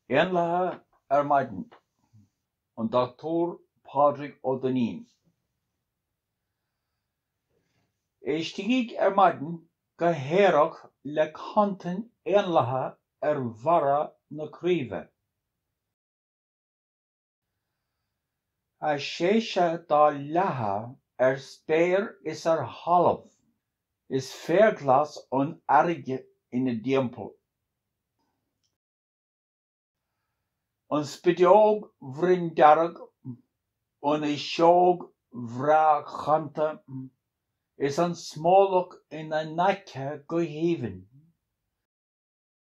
Éanlaithe ar maidin, An Doctúir Pádraig Ó Duinnín. Éistigíg ar maidin go haerach le cantain éanlaithe ar bharra na craoibhe. a séise dá leathadh ar spéir is ar thalamh, is féar glas an earraigh ina dtimpeall. An spideog bhroinndearg, an fhuiseog bhreá chanta, is an smólach ina n-aice go haoibhinn.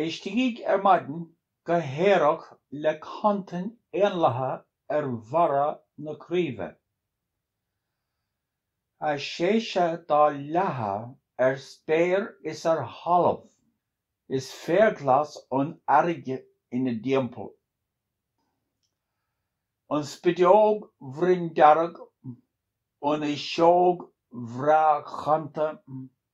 Éistigí ar maidin go haerach le cantain éanlaithe ar bharra na craoibhe, a séise dá leathadh ar spéir is ar thalamh, is féar glas an earraigh ina dtimpeall. An spideog bhroinndearg, an fhuiseog bhreá chanta,